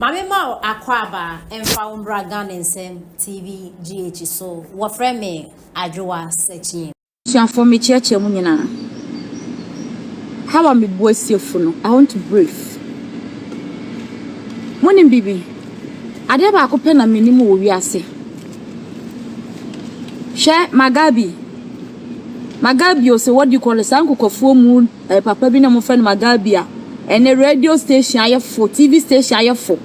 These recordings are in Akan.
Ma me ma wo akwaaba mfa wo mbra Ghana nsɛm TV GH so wɔfrɛ me Adwoa Sɛkyiɛ. Abusuafoɔ me kyeɛkyeɛ mo nyinaa how a me bua siefo no I want to brief mo nim biribi adeɛ baako pɛ na me nim wɔ wiase hwɛ Magabi Magabi o sɛ wadi kɔ no saa nkokofuo mu Ɛyɛ papa bi na wɔfrɛ no Magabi a ɛnnɛ radio station ayɛfo, TV station ayɛfo.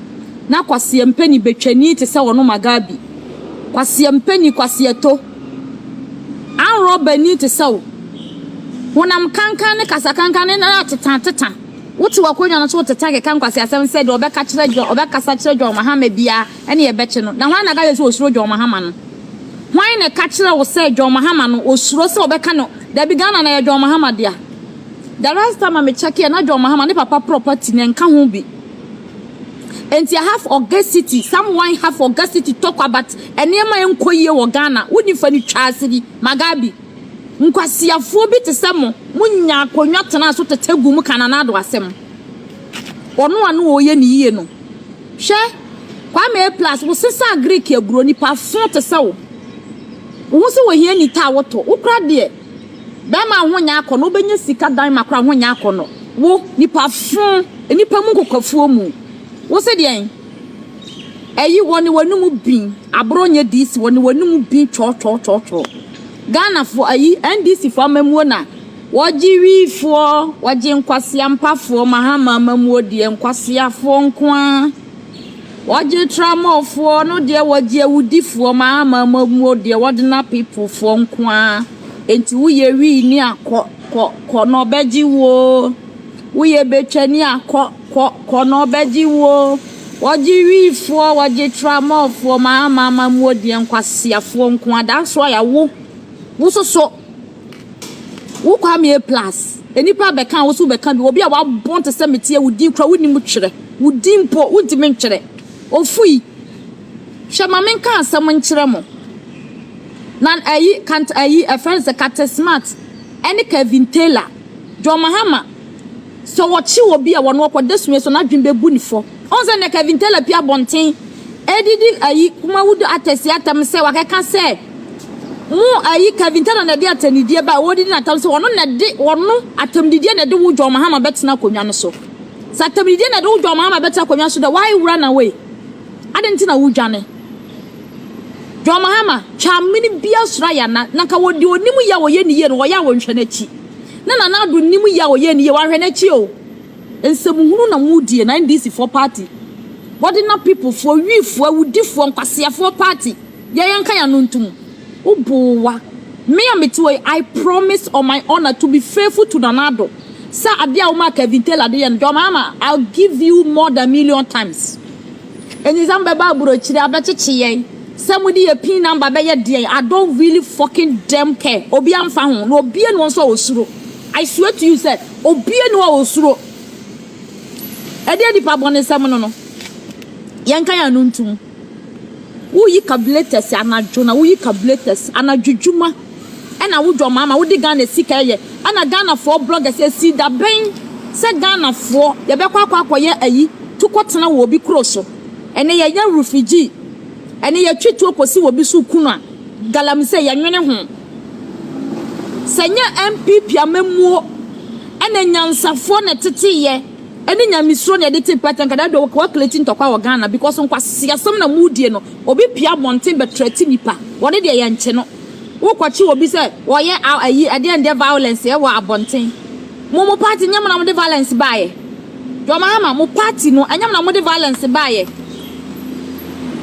Ná Kwasia Mpeni betwani te sɛ ɔno Magabi. Kwasia Mpeni, Kwasia To, anrɔbani te sɛ wo. Honam kankan ne kasa kankan ne na ateta ateta. Wote w'akonnwa no so teta keka nkwaseasɛm sɛ deɛ ɔbɛka kyerɛ John, ɔbɛkasa kyerɛ John Mahama biara. ɛne ɛbɛkye no. Na hwan na ɛka kyerɛ sɛ osuro John Mahama no? Hwan na ɛka kyerɛ wo sɛ John Mahama no osuro sɛ ɔbɛka no dabi Ghana no yɛ John Mahama dea? The last time a me kyɛkeɛ na John Mahama ne papa property no ɛnka ho bi. Enti I have augacity, someone have augacity talk about nneɛma a ɛnkɔ yie wɔ Ghana, wo nifa no twa ase bi, Magabi. Nkwasiafoɔ bi te sɛ mo, mo nya akonnwa tenaa so tete gu mo ka Nana Addo asɛm. Ɔno a na ɔyɛ ne yie no. Hwɛ, Kwame A. Plus, wosesaa Greek aburoo, nipa fõ te sɛ wo. Wo ho sɛ ohia ni ta a wotɔ. Wo kora deɛ, bɛɛma a wo ho nyɛ akɔnɔ, wobɛnya sika dan ma kora wo ho nyɛ akɔnɔ. Wo, nipa fõ, nnipa mu nkokwafuo mu. Wo se deɛn? Ayi, wɔ ne w'anom bin, aborɔ nyɛ DC, wɔ ne w'anom bin twɔɔtwɔɔtwɔɔtwɔɔ. Ghanafoɔ, ayi, NDC foɔ amammuo na. Wɔgye wifoɔ, wɔgye nkwaseampafoɔ, Mahama amammuo deɛ nkwaseafoɔ nko ara. Wɔgye tramɔfoɔ no deɛ wɔgye awudifoɔ, Mahama amammuo deɛ ordinary people foɔ nko ara. Enti woyɛ wii ni a kɔ, kɔ, kɔ na ɔbɛgye wo o. Woyɛ betwa ni a kɔ, kɔ, kɔ na ɔbɛgye wo o. Wɔgye wifoɔ, wɔgye tramɔfoɔ, Mahama amammuo deɛ nkwaseafoɔ nko ara. That's why a wo, wo soso. Wo Kwamie plus nnipa bɛka wo so bɛka bi obi a wabɔn te sɛ meteɛ wo din kura wo nim twerɛ wo din mpo wo ntumi ntwerɛ ofui hwɛ ma me nka asɛm nkyerɛ mo na ayi kant ayi ɛfrɛ no sɛ kate smart ɛne Kevin Taylor John Mahama sɛ wɔkye obi a wɔn ɔkɔ da sua so n'adwene bɛbu ne fɔ. Ɔn sɛ nɛ Kevin Taylor pue abɔnten ɛde di ayi Kumawudu Atɛsi atam sɛ wakɛka sɛ mo ayi Kevin Taylor nɛde atɛnidie ba a wɔdidi no atam sɛ ɔno nɛde ɔno atɛmdidie nɛde wo John Mahama bɛtena akonwa no so sɛ atɛmdidie nɛde wo John Mahama bɛtena akonwa so dɛ why wura na wei aden nti na wodwane John Mahama twa mene bia soro ayɛ ana na nka wɔ deɛ ɔnim yɛ a ɔyɛ ne yie no wɔyɛ a wɔnhwɛ nakyi na Nana Addo nim yɛ a ɔyɛ ne yie wanhwɛ nakyi o. Nsɛm hunu na mo die na NDC foɔ party bɔde na people foɔ wi foɔ awudi foɔ nkwasea foɔ party yɛ yɛ nka yano ntom wo boo wa me a me te hɔ yi I promise on my honor to be faithful to Nana Addo sɛ adeɛ a wo maa Kevin Taylor de yɛ no deɛ ɔmaa ma I'll give you more than million times anyizam bɛba aburokyire abɛkyekye yɛn sɛ mo de yɛ pin number bɛyɛ deɛn I don't really fucking damn care obi a nfa ho na obie na wɔn nso a wɔsuro I swear to you sɛ Obiara nni hɔ a osuro. Ɛdeɛn nipa bɔne sɛ mono no? Yɛnka yɛn ano ntom. Woyi calculators anadwo na woyi calculators anadwo dwuma ɛna wo dwɔmaama wode Ghana sika ɛyɛ ɛna Ghanafoɔ bloggers ɛsii dabɛn sɛ Ghanafoɔ yɛbɛkɔ akɔ akɔyɛ ayi to kɔtena wɔ obi kuro so ɛnɛ yɛyɛ refugee ɛnɛ yɛtwe tuo kɔsi wɔ obi so ku no a galamsey yɛnwene ho. Sɛ nyɛ NPP amammuo ne nyansafoɔ na ɛtetee yɛ ɛne nyamesuro na yɛde tee pɛtɛ nka da dodo wa create ntɔkwa wɔ Ghana because nkwaseasɛm na mu die no obi pia abɔnten bɛ threat nipa wɔde deɛ yɛn kye no wo kɔkye obi sɛ wɔyɛ ayi ɛdeɛ ɛdeɛ violence ɛwɔ abɔnten mo mo party nyɛ mo na mo de violence baayɛ John Mahama mo party no ɛnyɛ mo na mo de violence baayɛ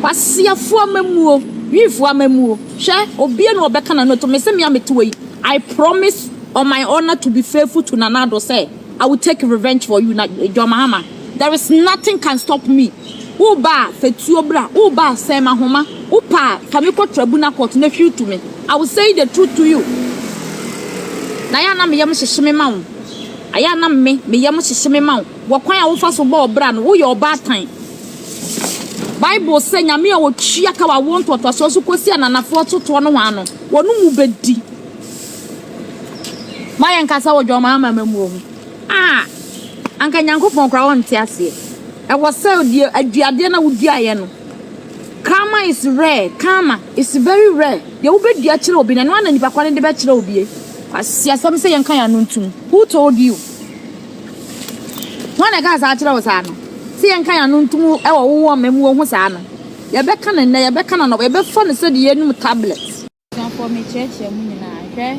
kwaseafoɔ amammuo wifoɔ amammuo. Hwɛ, obia ni a ɔbɛka n'ano atom, mese me a mete hɔ yi, I promise on my honor to be faithful to Nana Addo sɛ, I will take revenge for you, na John Mahama, there is nothing can stop me, woba a, fa tuo bra, woba a, sɛn m'ahoma, wopɛ a, fa me kɔ tribunal court na hwiw to me, I will say the truth to you, na ayɛ a na me yam hyehye me ma wo, ayɛ a na me, me yam hyehye me ma wo, wɔ kwan a wofa so bɔ ɔbra no, woyɛ ɔbaatan. Bible sɛ Nyame a ɔtua ka wɔ awoɔ ntoatoasoɔ so kɔsi ananafoɔ totoɔ no hɔ no, wɔn mu bɛdi. Ma yɛn kasa wɔ dwammaa amamamuo ho. Ah! Anka Nyankopɔn koraa ɔnte aseɛ. Ɛwɔ sɛ deɛ aduadeɛ na woduaeɛ no. Karma is rare. Karma is very rare. Deɛ wobɛdua kyerɛ obi no, ɛno ara na nipa korɔ no de bɛkyerɛ obie. Kwasiasɛm sɛ yɛnka yɛn ano ntom. Who told you? Hwan na ɛkaa saa kyerɛɛ wo saa no? Sɛ yɛnka yɛn ano ntom wɔ wo wɔn mmamu wɔ ho saa no, yɛbɛka no nnɛ, yɛbɛka no anɔpa, yɛbɛfa no sɛdeɛ yɛnom tablet. Abusuafoɔ mekyerɛkyerɛ mo nyinaa hwɛ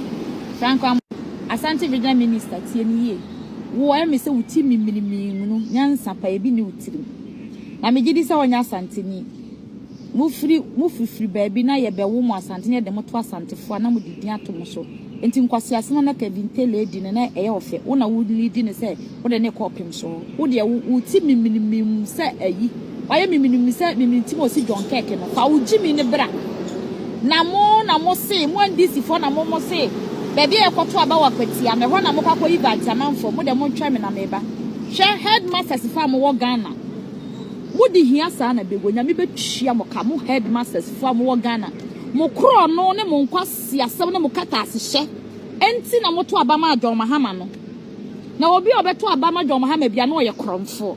Franco Amor Asante Regional Minister tie me yie wo ayɛ me sɛ wo ti mimini mii nwunu nyansa paa bi nni wo tirim na megye di sɛ wonyɛ Asanteni. Mofiri mo firifiri baabi na yɛbɛwo mo Asante na yɛde mo to Asantefoɔ a na mode din ato mo so nti nkwaseasɛm a na Kevin Taylor redi no na ɛyɛ ɔfɛ wo na wo leadi no sɛ wode no rekɔ ɔpem so wo deɛ wo wo ti miminimim sɛ ayi wayɛ miminimim sɛ mimini ti ma ɔsi John Kirk no fa wo gyimi no bra na mo na mo se mo NDC foɔ na mo mo se baabi a yɛkɔto aba wɔ akwatia no ɛhɔ na mo kakɔ yi ba nti amanfoɔ mo deɛ mo ntwɛn me na meba hwɛ headmasters fa mo wɔ Ghana Mo de hia saa na bɛwɔ nyame bɛtua mo ka mo headmasters foɔ a mo wɔ Ghana mo korɔno ne mo nkwaseasɛm ne mo katasehyɛ nti na mo to aba maa John Mahama no na obi a ɔbɛto aba ama John Mahama bia na ɔyɛ korɔnfoɔ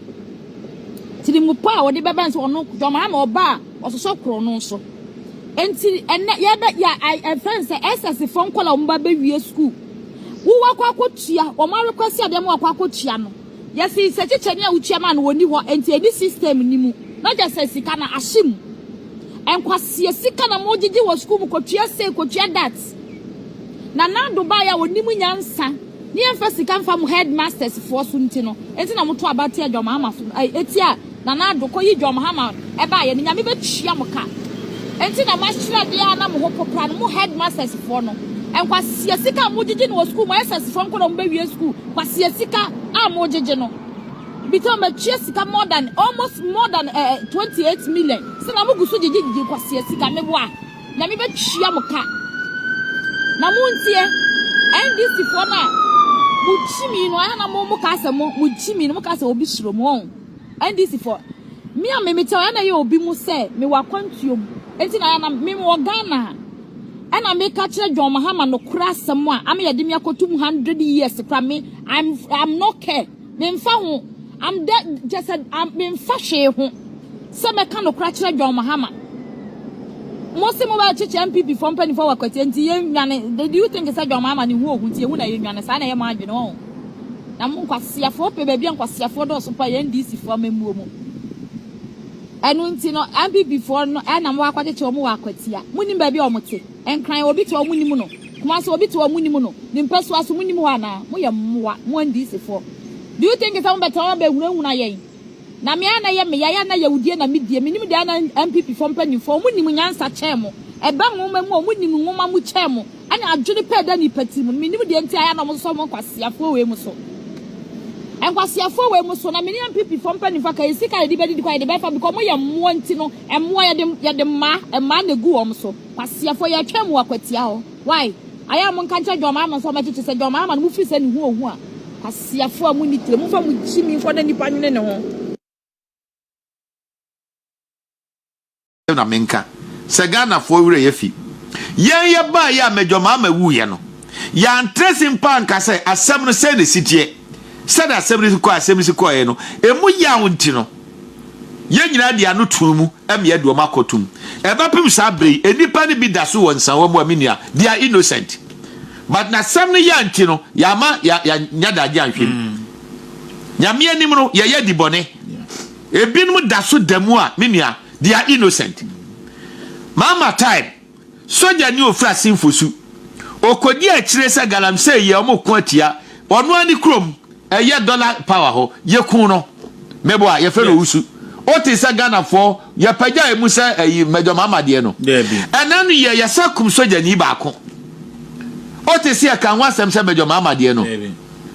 tirimupɔ a ɔde bɛba nso ɔno John Mahama ɔba a ɔsosɔ korɔno so nti ɛnɛ yɛbɛ yɛ ɛfɛn sɛ SS foɔ nkɔla wɔn ba bɛwie school wowakɔ akɔtua wɔn arekwasi adeɛ ma wakɔ akɔtua no Yɛse nsɛkyekyɛne a wotua ma no wɔ nni hɔ enti ɛnni system no mu. Na gye sɛ sika no ahye mu. Nkwaseɛ sika na mogyegye wɔ sukuu mu kɔtua sei kɔtua that. Nana Addo baeɛ a ɔnim nyansa ne yɛmfa sika mfa mo headmasters foɔ so nti no enti na moto abate adwamaama so ai ɛtia Nana Addo, kɔ yi dwom ha ma ɛbaayɛ no Nyame bɛtua mo ka. Enti na moahyira deɛ a na mo ho popra no, mo headmasters foɔ no. Nkwaseɛ sika a mogyegye no wɔ sukuu, mo SS foɔ nkwadaa a ɔmo bɛwie sukuu, kwaseɛ sika a mogyegye no. Bitɔn matua sika more than, almost more than eh, eh, 28 million. Sɛ na mo gu so gyegye gyegye kwaseɛ sika, me boa, Nyame bɛtua mo ka. Na mo ntie, NDC foɔ no a mo gyimi no, ɛha na mo mo ka sɛ mo, mo gyimi no, mo ka sɛ obi suro mo. NDC foɔ. Me a me mete hɔ ɛna ɛyɛ obi mu sɛ me wɔ akwantuo mu. Enti na na me me wɔ Ghana a ɛna me ka kyerɛ John Mahama nokorɛ asɛm a ama yɛde me akɔto mu hundred years koraa me I'm I'm no care me nfa ho I'm de kyɛ sɛ I'm me nfa hwee ho sɛ mɛka nokorɛ akyerɛ John Mahama. Mo se mo bɛ kyekyɛ NPP foɔ mpanimfoɔ wɔ Akwatia nti yɛn nwane do you think sɛ John Mahama ne ho ohu nti yɛn ho na yɛn nwane saa na ɛyɛ mo adwene ɔn. Na mo nkwaseafoɔ pɛ baabi a nkwaseafoɔ dɔɔso pa yɛ NDCfoɔ amammuo mu. Ɛno nti no, NPPfoɔ no ɛna mo akɔkyekyɛ wɔn wɔ akwatia. Mo nim baabi a wɔn te. Nkran obi te hɔ mo nim no. Kumasi obi te hɔ mo nim no. Ne mpasua so mo nim hɔ anaa? Mo yɛ mmoa, mo NDCfoɔ. Do you think sɛ mo bɛtena hɔ abɛhunahuna yɛn? Na me ara na ɛyɛ me yae a na yawdie na me die, me nim deɛ a na NPP foɔ mpaninfoɔ ɔmo nim nyansa kyɛn mo, ɛbɛ nwoma mu a ɔmo nim nwoma mu kyɛn mo, ɛne adwene pa a ɛda nipa tiri mu no, me nim deɛ nti a ɛyɛ a na ɔmo sosɔ mo nkwaseafoɔ wei mo so, nkwaseafoɔ wei mo so, na me ne NPP foɔ mpaninfoɔ aka yɛ sika a yɛde bɛ didi koraa yɛde bɛ fa because ɔmo yɛ mmoa nti no, mmoa yɛde, yɛde mmaa, mmaa na egu wɔn so, kwaseafoɔ, yɛtwɛn mo wɔ akwatia hɔ. Wai ayɛ a monka nkyerɛ John Mahama nso ɔmɛgye kyesɛ John Mahama no mofiri sɛ neho ohu a kwasiafoɔ a monni tire momfa mo gyimi mfɔ na nnipa nwene neho. na menka sɛ Ghanafoɔ werɛ yɛafi yɛn yɛbaeɛ a Major Mahama wuiɛ no yɛantrɛse mpo anka sɛ asɛm no sɛn na ɛsiteɛ sɛdeɛ asɛm no si kɔɛ asɛm no si kɔeɛ no ɛmu yaw nti no yɛn nyinaa de ano too mu Ɛmmeɛ deɛ wɔn akɔ tum. Ɛbɛpem saa berɛ yi, nnipa no bi daso wɔ nsawa mu a, me nua, they are innocent. But na sɛm no yɛ nti no, yɛama yɛ yɛ nyɛ daagye anhwɛ mu. Nyame anim no, yɛ yɛ di bɔne. Ebinom daso da mu a, me nua, they are innocent. Mama time. Sogyani a ofura Simfosu. Okodi akyire sɛ Galamsey yɛ ɔmo ko atia ɔno ara ne kurom ɛyɛ Dollar power hɔ. Yɛkuu no. Meboa, yɛfrɛ no Owusu. Wote sɛ Ghanafoɔ yɛpagya emu sɛ ɛyi Major Mahama deɛ no. Ɛnɛ no yɛ yɛsan kum sogyani baako. Wote sɛ yɛka ho asɛm sɛ Major Mahama deɛ no.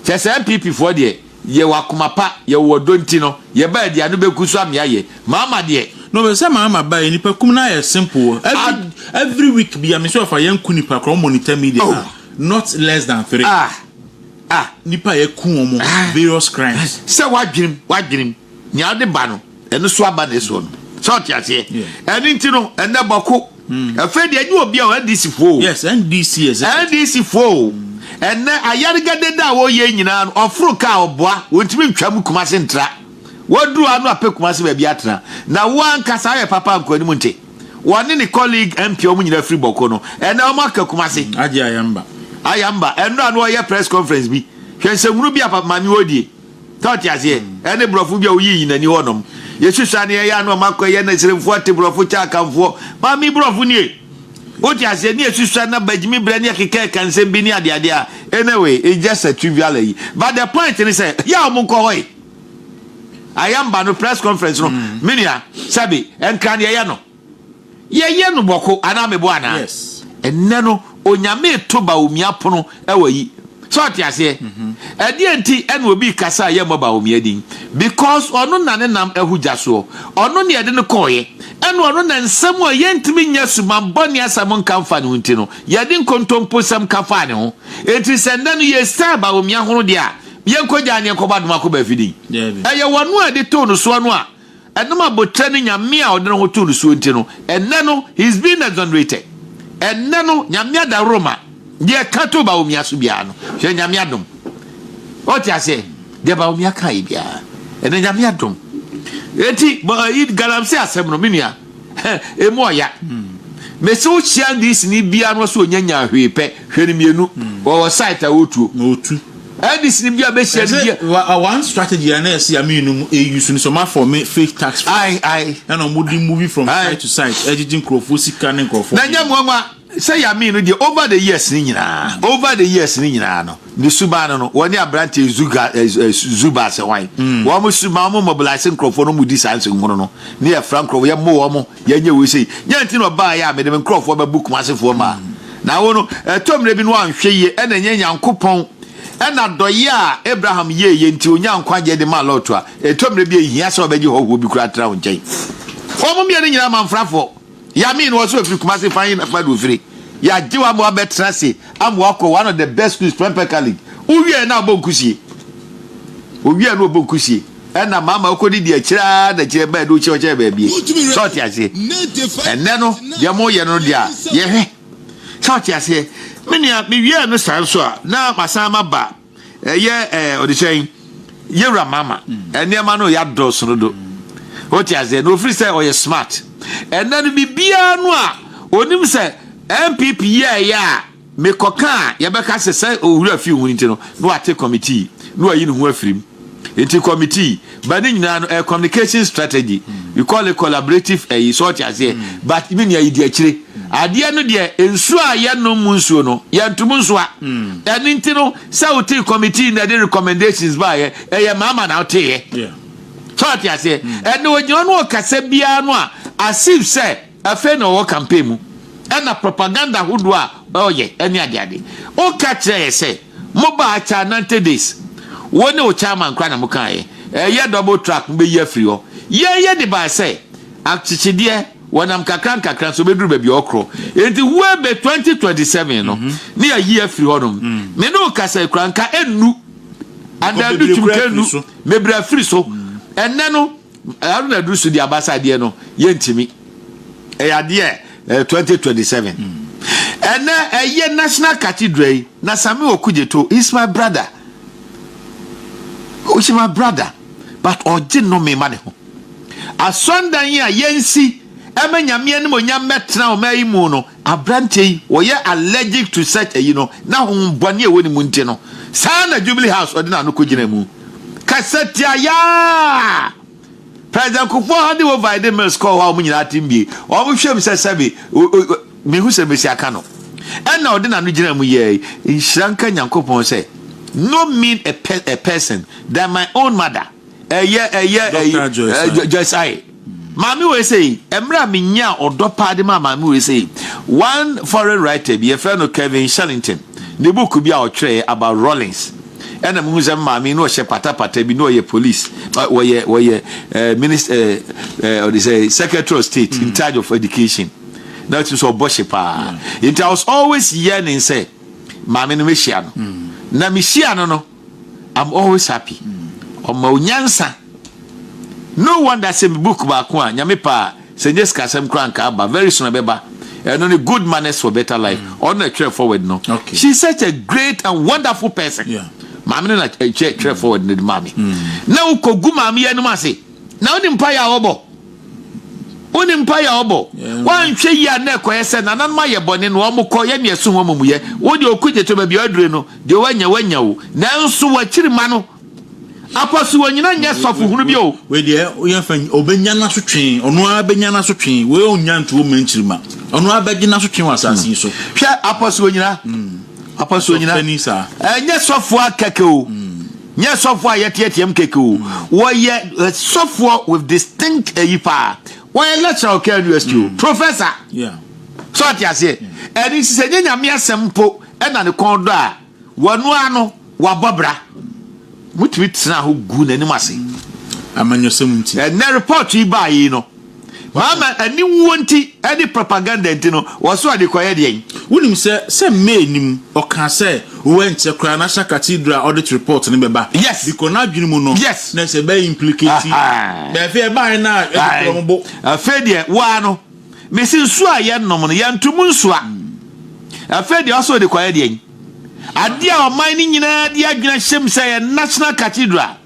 Kyerɛ sɛ NPP foɔ deɛ Yɛwɔ akoma pa, yɛwɔ ɔdɔ nti no yɛbaɛ deɛ ano bɛku so amea yɛ, maama deɛ. No me sɛ maama baɛ, nipa kum no ayɛ simple every every week bia me sɛ ɔfa yɛn ku nipa kora ɔmɔ nita media ah not less than three ah ah nipa yɛ ku ɔmɔ various crimes. Sɛ w'adwenem w'adwenem. Nea ɔde ba no, ɛno so aba ne soɔ no. Sɛ ɔte aseɛ? Ɛno nti no, ɛnɛ bɔko. Hmm. Afei deɛ ɛnyɛ obi a NDC foɔ o. Yes, NDC is it. NDC foɔ o. Ɛnɛ ayarigade da a wɔyɛ nyinaa no, ɔforo kaa ɔboa, wɔntumi ntwa mu kuma se ntra. Wɔduru ano apɛ kuma se baabi atena. Na wo ankasa ayɛ papa nkɔ anim nte. Wɔne ne colleague MP wɔn nyinaa firi bɔko no. Ɛnɛ wɔn aka kuma se. Hmm, agye ayamba. Ayamba, ɛnora no ɔyɛ press conference bi. Hwɛ nsɛmhunu bi a papa maame wɔdie. Sɛ ɔte aseɛ ɛne brɔfo bi a ɔyii nyina ni hɔ nom yɛsu saa ne ɛyɛ a na ɔma akɔ ɛyɛ na sremfoɔ ate brɔfo kyɛ akanfoɔ ma me brɔfo nie wote aseɛ ne yɛsu saa na bagyimi berɛ ne ɛkeka ɛka nsɛm bi ne adeadeɛ a anyway it's just a trivial ayi but the point ne sɛ yɛ a ɔmo nkɔ hɔ yi ayamba no press conference no menua sɛbi ɛnkra ne ɛyɛ no Yɛyɛ no bɔko anaa mebo anaa? Yes. Ɛnnɛ no, Onyame reto Bawumia pono wɔ yi. Sɛ ɔte aseɛ? Mhm. Ɛdeɛ nti ɛna obi rekasa a yɛmmɔ Bawumia din? Because ɔno na ne nam ahu gya soɔ. Ɔno na yɛde no kɔɔeɛ. Ɛna ɔno na nsɛm a yɛntumi nyɛ sumammɔne asɛm nka mfa ne ho nti no, yɛde nkontomposɛm ka faa ne ho. Enti sɛ nnɛ no yɛresan Bawumia ho no deɛ a, yɛnkɔgyaa no yɛnkɔbɔ Adomakɔ Bafiding. Daabi. Ɛyɛ wɔn a yɛde too no soɔ no a Ɛnam abotire ne Nyame a ɔde ne ho too no soɔ nti no, ɛnnɛ no, he is being exonerated. Ɛnnɛ no, Nyame adaworoma, deɛ ɛka too Bawumia so biara no, hwɛ Nyame adom. Ɔte aseɛ, deɛ Bawumia kaeɛ biara, ɛnɛ Nyame adom. Eti, galamsey asɛm no, me nua, emu ɔya. Mese wo hyia Englishni biara no ɔsɛ ɔnya nyaa hwee pɛ, hwɛ no mmienu, ɔwɔ site a ɔtuo. Addis ni bia bɛhyia no bia. Ɛsɛ one strategy a na ɛsɛ ya mmienu mu ɛyi so no sɛ ɔma fɔ me fake tax file. Ɛna ɔmo di movie from site to site ɛgyegye nkorɔfoɔ sika ne nkorɔfoɔ. Na nyɛ nwanwa sɛ ya mmienu deɛ over the years no nyinaa over the years no nyinaa no ne suban no no wɔne abranteɛ zuga zuba sɛ hwan wɔn suban wɔn mobilise nkorɔfoɔ no wɔn di saa nsɛnhunu no ne yɛ fra nkorɔfoɔ yɛ mo wɔn. Yɛnyɛ wei sei. Nyɛ nti na ɔbaeɛ a mede me nkurɔfoɔ bɛbo Kumasefoɔ maa. Na wo no, ɛtɔ mmerɛ bi na woanhwɛ yie ɛna ɛnyɛ Nyankopɔn ɛna dɔyɛ a Abraham yɛeɛ nti ɔnyaa nkwagyeɛ de maa Lot a, ɛtɔ mmerɛ bi a ɛnhia sɛ ɔbɛgye hɔhoɔ bi koraa tra wo nkyɛn. Wɔn mmienu nyinaa amanfrafoɔ. Yame no ɔse ɔfiri Kumase fa he na fa de ɔfire. Yɛagye wo ama woabɛtena ase ama woakɔ one of the best schools Prempeh College. Wowieɛ na wobɔ nkusie. Owieɛ na ɔbɔ nkusie. ɛna mama ɔkɔdi deɛ akyire ara na akyire bɛɛ de wo kyerɛ kyerɛ baabi sɛ ɔte aseɛ ɛnɛ no deɛ mo yɛ no deɛ a yɛhwɛ sɛ ɔte aseɛ me nua mewiɛ no saa nso a na masan ma ba ɛyɛ ɛɛ ɔde sɛn yɛwura mama nneɛma no yɛ adɔɔso no do ɔte aseɛ na ofiri sɛ ɔyɛ smart ɛnɛ no biribiara no a onim sɛ npp yɛɛyɛ a Mekɔka a, yɛbɛka sɛ sɛ owura fi ho nti no, na wate kɔmitii, na wayi ne ho afiri mu. Enti kɔmitii, but ne nyinaa no, ɛyɛ communication strategy. We call it collaborative ɛyi, so ɔte aseɛ? But me nua, yɛdi akyire. Adeɛ no deɛ, nsuo a yɛnom mu nsuo no, yɛntom nsoa. Ɛno nti no, sɛ wotee kɔmitii na ɛde recommendations baeɛ, ɛyɛ mama na woteeɛ. So ɔte aseɛ? Ɛnna ɔgyina hɔ na ɔkasa biara no a, as if sɛ, Afei na ɔwɔ campaign mu ɛna propaganda ahodoɔ a ɔɔyɛ ɛne adeade. Woka kyerɛ yɛ sɛ mo baa kyɛ a nante days wo ne wo chairman koraa na mo kaayɛ ɛyɛ double track mo bɛyi afiri hɔ. Yɛn yɛ de baa sɛ akyekyedeɛ wɔnam kakra nkakra nso bɛduru baabi a ɔkorɔ nti ho ɛbɛ 2027 no ne yɛayi afiri hɔ nom. Me ne wo kasa yi koraa nka ɛnnu anaa ɛdu twum ka ɛnnu mebrɛ afiri so ɛnnɛ no. Haruna duru so di abasa adeɛ no yɛntumi ɛyɛ adeɛ eh, 2027 ɛnɛ ɛyɛ national cathedral yi na sami okugyeto is my brother is my brother but ɔgye nnome ma ne ho asɔndan yi a yɛnsi ɛma nyame anim onyam mɛtena ɔma yi mu no Aberanteɛ yi ɔyɛ allergic to such ayi no na honhom bɔne a ɛwɔ ne mu nti no saa na Jubilee House ɔde n'ano kɔgyina mu kasa tia yaa President Kufuor handing over ɛde mills kɔɔ hɔ a wɔn nyinaa atem bie wɔn hwɛm sɛ sɛbe mehu sɛ mesi aka no ɛna ɔde n'ano gyina mu yɛɛ nhyira nka Nyankopɔn sɛ no mean a, pe a person than my own mother ɛyɛ ɛyɛ ɛyɛ jɛsae maame wei sɛ yi mmerɛ a menya ɔdɔ paa de ma maame wei sɛ yi one foreign writer bi yɛfrɛ no kevin shellington ne book bi a ɔtwerɛɛ about rollins ɛna mehu sɛ maame na ɔhyɛ patapata bi na ɔyɛ police wɔyɛ wɔyɛ eh, minister eh, eh, ɔde sɛ secretary of state in mm. charge of education na ɔtumi sɛ ɔbɔ hye paa nti i was always yearning sɛ maame no mɛhyia no mm. na mehyia no no I'm always happy ɔma wo nyansa no wonder sɛ me book baako a nyame pɛ a sɛ nyɛ sikasɛm koraa nka aba very soon ɛbɛba ɛno ne good manners for better life mm. ɔno na ɛtwerɛ forward no she is such a great and wonderful person maame no na ɛtwerɛ forward no de maame mm. na wokɔgu maame yɛ anom ase na wonim mpaeɛ a wɔbɔ Wo ne mpaeɛ a ɔbɔ. Wanhwɛ yie a na ɛkɔyɛ sɛ nananom ayɛ bɔne na wɔn kɔ yɛ nea ɛso wɔn amumuyɛ. Wo deɛ ɔko gyetɔ baabi a wadure no, deɛ wanya wanya o. Nanso wakyiri mma no. Akɔ so ɔnyina nyɛ sɔfo hunu bio. Wei deɛ woyɛ fa ɔbɛnya n'asotwe, ɔno ara bɛnya n'asotwe. Wei ɔnnya nto ɔmma nkyiri mma. Ɔno ara bɛgye n'asotwe wɔ asase yi so. Hwɛ Apɔso ɔnyina. Apɔso ɔnyina. Ɛnyɛ sɔfo ara kɛkɛ o. Nyɛ sɔfoɔ a yɛteateam kɛkɛ o. Wɔyɛ sɔfoɔ with distinct ayi paa. Wɔyɛ lecturer wɔ KNU ST o. Mm. Professor. Yeah. So ɔte aseɛ. Mm. Ɛne nti sɛ nyɛ nyame asɛm mpo ɛna ne kɔn dɔ a, wɔno ara no wabɔ bra. Motumi tena ho gu n'anim ase. Mm. Amanyɔsɛm nti. Ɛnɛ report yi baa yi no. Mama aniwuo nti ne propaganda nti no, wɔsoa de kɔyɛ deɛn? Wonim sɛ sɛ May nim, ɔkaa sɛ oh ɛnkyɛ koraa National Cathedral audit report no bɛba. Yes. Because n'adwene mu no, Yes. na ɛsɛ ɛbɛyɛ implicate. Ahaa. Na afei ɛbaeɛ no a, ɛde korɔ mo bo. Afei deɛ wo ara no, mese nsuo a yɛnnom no, yɛnto mu nsuo a, afei deɛ ɔsɛ ɔde kɔyɛ deɛn? Ade a ɔman no nyinaa de adwene hyem sɛ ɛyɛ National Cathedral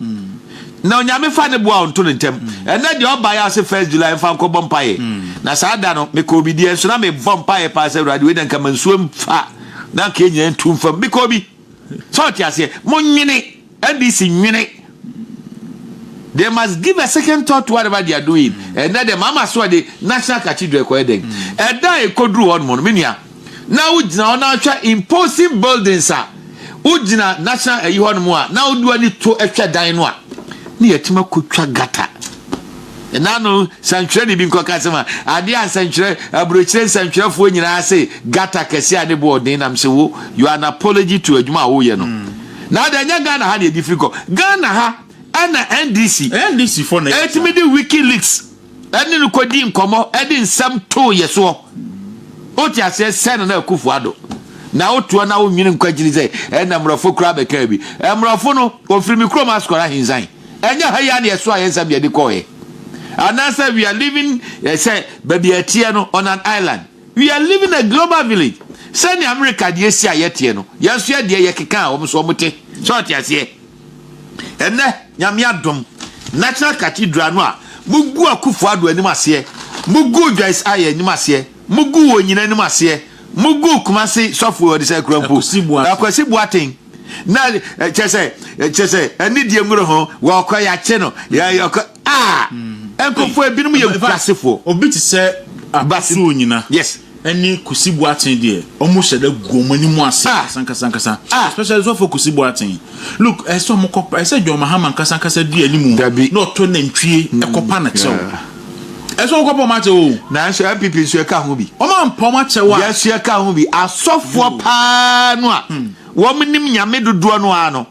na Onyame fa ne boa ɔnto no ntɛm. Ɛnnɛ deɛ ɔbaeɛ a ɔse first July mfa nkɔbɔ mpaeɛ. Na saa da no mekɔɔ bi deɛ nso na mebɔ mpaeɛ paa sɛ Awurade wei deɛ nka ma nsuo mfa na nka ɛnyina ntu mfam. Mekɔɔ bi. Sɛ wote aseɛ? Monwene. NDC nwene They must give a second thought to whatever they are doing. Ɛnɛ dɛ mama so ɔde National Cathedral ɛkɔyɛ dɛn? Ɛda a ɛkɔduru hɔ nom no, me nua, na wogyina hɔ na wohwɛ imposing buildings a, wogyina National ayi hɔ nom a, na wode w'ani to hwɛ dan no a, na yɛatumi akɔtwa gutter. Ɛna ano sɛntwerɛni bi nkɔka asɛm a, adeɛ a nsɛntwerɛ, aburokyire nsɛntwerɛfoɔ nyinaa se gutter kɛseɛ a ne boɔ ɔden nam se wo, your an apology to adwuma a woyɛ no. Na adɛ ɛnyɛ Ghana ha na yɛde firi kɔ? Ghana ha ɛna NDC NDC foɔ na yɛte ɛtumi de wikileaks ɛne no kɔ di nkɔmɔ ɛde nsɛm too yɛ soɔ wote aseɛ sɛ Nana Akufo Addo na wotoɔ na wo nwene nkɔ akyiri sɛ ɛna mmorɔfo koraa bɛkaa bi mmorɔfo no wɔfiri me kurom Ascot Ahinsan ɛnyɛ ha yi a na yɛsoa yɛ nsɛm de ɛde kɔɔɛ anaasɛ we are living eh, sɛ baabi a ɛteɛ no on an island We are living a global village sɛnea america deɛ si a yɛteɛ no yɛn nso yɛdeɛ yɛkeka a wɔn so wɔn te sɛ ɔte aseɛ ɛnɛ nyame adom national cathedral no a mugu akufo ado anim aseɛ mugu joyce ayɛ anim aseɛ mugu wɔ nyina anim aseɛ mugu kumase sɔfo ɔde sɛ kura mpo akwasi boaten na kyerɛ sɛ kyerɛ sɛ ɛne deɛ nwura ho wɔkɔ yɛakye no yɛkɔ a nkɔfoɔ ebinom yɛ nkurasefoɔ obi te sɛ abasuo nyina yes ɛne kusi boaten deɛ ɔmo hyɛ dɛ gu ɔmo anim ase ah. kasankasankasa ah. especially sɔfo kusi boaten look ɛsɛ ɔmo kɔ ɛsɛ john mahama nkasankasa di anim na ɔtɔ nantwie ɛkɔpa na kyɛw Ɛsɛ sɛ wɔkɔpɔm akyɛ o. Nanso NPP nso ɛka ho bi. Wɔn ampɔm akyɛ wo a. Yɛ nso yɛka ho bi. Asɔfoɔ paa no a wɔn nim Nyame dodoɔ no ara no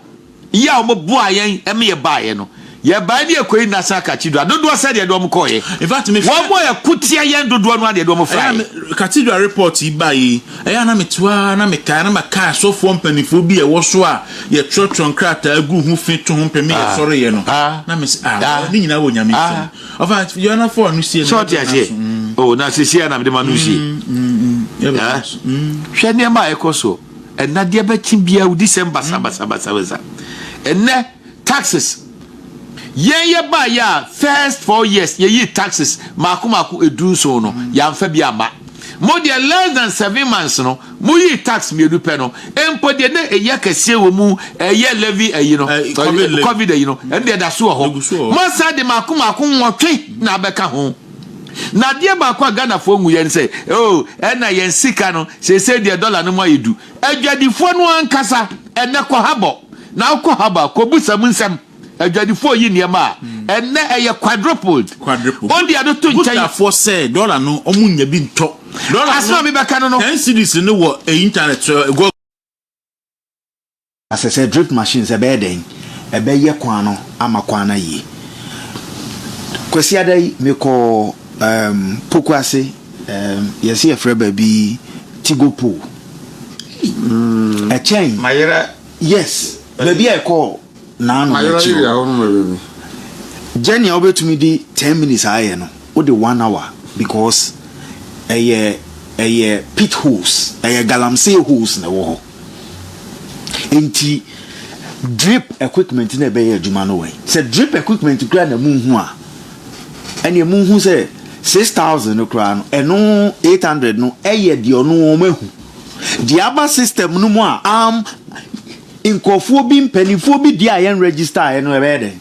yɛ a wɔn boaa yɛn ɛma yɛ baeɛ no. Yɛ baeɛ ne yɛ kɔɛ nyinaa san Cathedral dodoɔ sɛ deɛ deɛ wɔn kɔɔyɛ. In fact me hwɛ. Wɔn a yɛ ko tia yɛn dodoɔ no ara deɛ deɛ wɔn fraɛ. Ɛyɛ a Cathedral report yi baeɛ yi ɛyɛ a na me te hɔ ara na me kae na ma kae asɔfoɔ mpaninfoɔ bi a ɛwɔ so a Yɛtwerɛtwerɛ nkrataa gu ho fi to ho mpɛ me yɛ sɔre yɛ no na me se ah ne nyinaa wɔ nyame nsam ɔfa yɛ na fɔ ano sie no na so oh na sisi ya na me de ma no sie hwɛ nneɛma a ɛkɔ so ɛnadeɛ bɛkye bia wodi sɛm basa basa basa basa ɛnɛ taxes Yɛn yɛbaeɛ a first four years yɛyii taxes mmaako mmaako edu nson no yɛamfa bi amma. Mo deɛ less than seven months no moyii tax mmienu pɛ no mpo deɛ na ɛyɛ kɛseɛ wɔ mu ɛyɛ levy ayi no covid ayi no ɛno deɛ ɛda so wɔ hɔ. Moasan de mmaako mmaako nwɔtwe na abɛka ho. Na adeɛ baako a Ghanafoɔ nhu yɛ ne sɛ oh ɛna yɛn sika no seesei deɛ dollar no mu ayɛ du Adwadifoɔ no ankasa ɛnɛ kɔ ha bɔ na wokɔ ha ba kɔ busa mu nsɛm adwadifoɔ yi nneɛma a ɛnɛ ɛyɛ quadrupled ɔde ɛno to nkyɛn Butafoɔ sɛ dollar no ɔmo nya bi ntɔ dollar no asɛm a mebɛka no no ten cedis no wɔ internet so ɛgɔ. Na sɛ sɛ drip machines ɛbɛyɛ dɛn ɛbɛyɛ kwan no ama kwan no ayie. Kwasiada yi me kɔɔ um, Pokuase um, yɛse yɛfrɛ baabi Tigo pool. Mm. Ɛkyɛn. Mayera. Yes, baabi a ɛkɔɔ naano no akyi hɔ. Gyɛ nea wobɛtumi de 10 minutes ayɛ no, wode 1 hour because ɛyɛ ɛyɛ pit holes, ɛyɛ galamsey holes na ɛwɔ hɔ. Enti drip equipment na ɛbɛyɛ adwuma no wɔ he? Sɛ drip equipment koraa na munhu a, ɛneɛ munhu sɛ 6000 no koraa no, ɛno 800 no ɛyɛ deɛ ɔno wɔn ahu. Deɛ aba system no mu a am nkurɔfoɔ bi mpanimfoɔ bi deɛ a yɛn register a ɛno ɛbɛyɛ dɛn?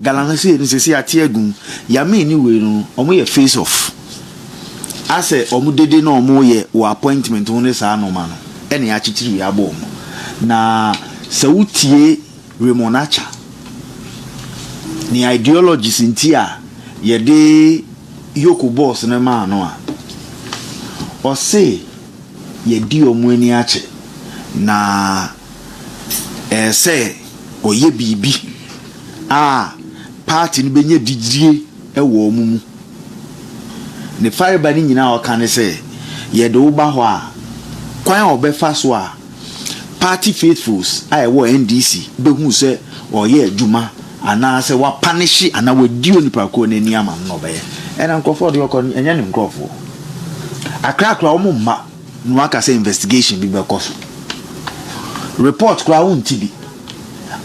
Galamsey no sesei ate agu mu. Yamee ne wei no ɔmo yɛ face off asɛ ɔmo dede na ɔmo yɛ wɔ appointment ho ne saa nnoɔma no ɛna yakyekyere wei abɔ ɔmo na sɛ wo tie Raymond Acha ne ideologies nti a yɛde Yoko boss no maa no a ɔse yɛdi ɔmo ani akye na ɛsɛ ɔyɛ biribi a party no bɛnya gyidie wɔ wɔn mu. Ne fareba no nyinaa a ɔka ne sɛ, yɛde wo ba hɔ a, kwan a ɔbɛfa so a party faithfuls a ɛwɔ NDC bɛhu sɛ ɔreyɛ adwuma anaasɛ wapanehye anaa wadi onipa korɔ no ani ama no na ɔbɛyɛ. Ɛna nkorɔfoɔ a ɔde wɔkɔ no, ɛnyɛ ne nkorɔfoɔ. Akra koraa wɔn mma. Na waka sɛ investigation bi bɛkɔ so. Report koraa wonte bi.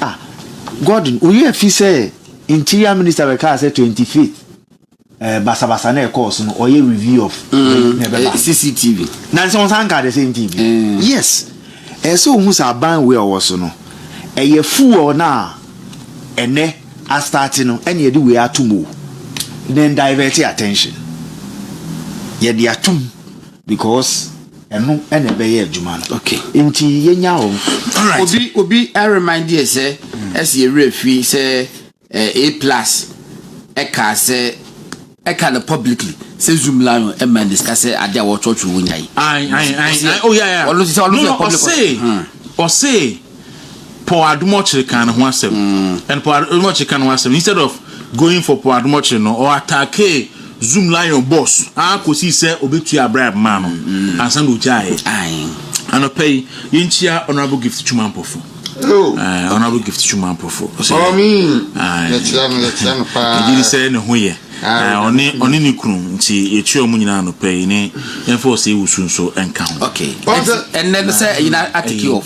Ah Gordon woyɛ afi sɛ interior minister bɛkaa sɛ twenty fifth eh, basabasa na ɛkɔɔ so no ɔyɛ review of mm, na ɛbɛba. Eh, CCTV. Na nsɛ wɔsan kaa the same thing bi. Mm. Yes. Ɛyɛ sɛ wohu sɛ aban wei a ɔwɔ so no ɛyɛ fuel no a ɛnɛ astarte no ɛne ɛde wei atom o. Then divert attention. Yɛde atom because ɛno ɛna ɛbɛyɛ adwuma no okay nti yɛnya wɔn alright obi obi I remind yɛ sɛ ɛsi ewura fi sɛ eh, a plus ɛka sɛ ɛka no publicly sɛ zoom lion ɛma n discuss sɛ ade a wɔtwɔtwɔ wɔ nya yi ayi ayi ayi oh yeah yeah ɔno sɛ ɔno sɛ public ɔse ɔse Paul Adomɔkyere kaa ne ho asɛm and Paul Adomɔkyere ka ne ho asɛm instead of going for Paul Adomɔkyere no ɔ attackee Zoom Lion boss aa kosii sɛ ɔbɛtuaa bribe maa no ansa na ɔgyaeɛ. Anɔpa yi yɛnkyia Honourable Gift Twuma Amporfo. Aye Honourable Gift Twuma Amporfo ɔsɛ yɛgye di sɛ ne ho yɛ ɔne ɔne ne kunu nti yɛkyia ɔmo nyinaa anɔpa yi ne yɛmfa ɔsɛ wusu nso nka ho. Ɛnɛ no sɛ ɛyina atiki of.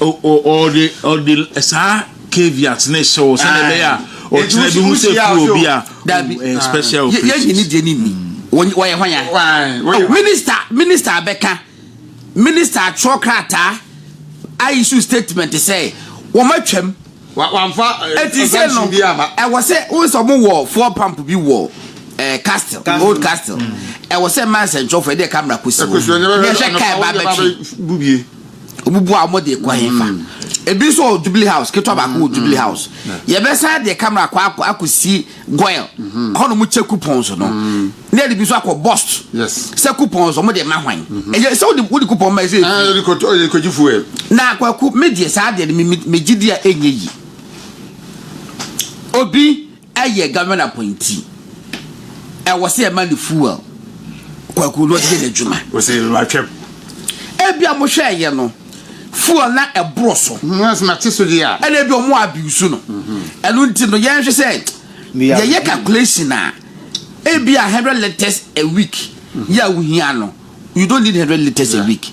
ɔde ɔde saa caveat ne hyɛ wo sɛdeɛ ɛbɛyɛ a ɔkyena bi hu sɛ kuru obi a ɛyɛ special operation. yɛyi ne deɛ ne ni wɔyɛ hwan ya minista minista abɛka minista atwerɛ krataa ayi so statement sɛ wɔn atwam wamfa ɛti sɛ no ɛwɔ sɛ wo sɛ ɔmo wɔ four pump bi wɔ eh, castle old castle ɛwɔ sɛ ma nsɛnkyerɛfoɔ ɛdeɛ camera kɔsi hɔ ne ɛhwɛ kaa ɛba bɛtwe Wobubu a wɔde kɔ hefa? Ebi nso wɔ Jubilee House, ketewa baako wɔ Jubilee House. Yɛbɛsan de camera akɔ akɔ akɔsi Goil hɔ nom kyɛ coupons no. Na yɛde bi nso akɔ Bost. Yes. Sɛ coupons wɔn de ma hwan? Ɛyɛ sɛ wode wode coupon ma ɛsɛ Ah, efi. yɛde kɔtɔ yɛde kɔgye fuel. Na kwaku me deɛ saa deɛ no me me- megye di a ɛnyɛ yi. Obi Ɛyɛ government appointee ɛwɔ sɛ yɛma no fuel kwaku na ɔde yɛ n'adwuma. Wɔsɛ matwam. Ebi a mo hwɛ ɛyɛ no fuel na ɛboro so. Nyɛ sɛ mate so deɛ a. Ɛna ebi ɔmo abuse no. Ɛno nti no yɛn hwɛ sɛ yɛyɛ calculation a ebi a hundred litres a week yɛ a wohia no you don't need hundred litres a week.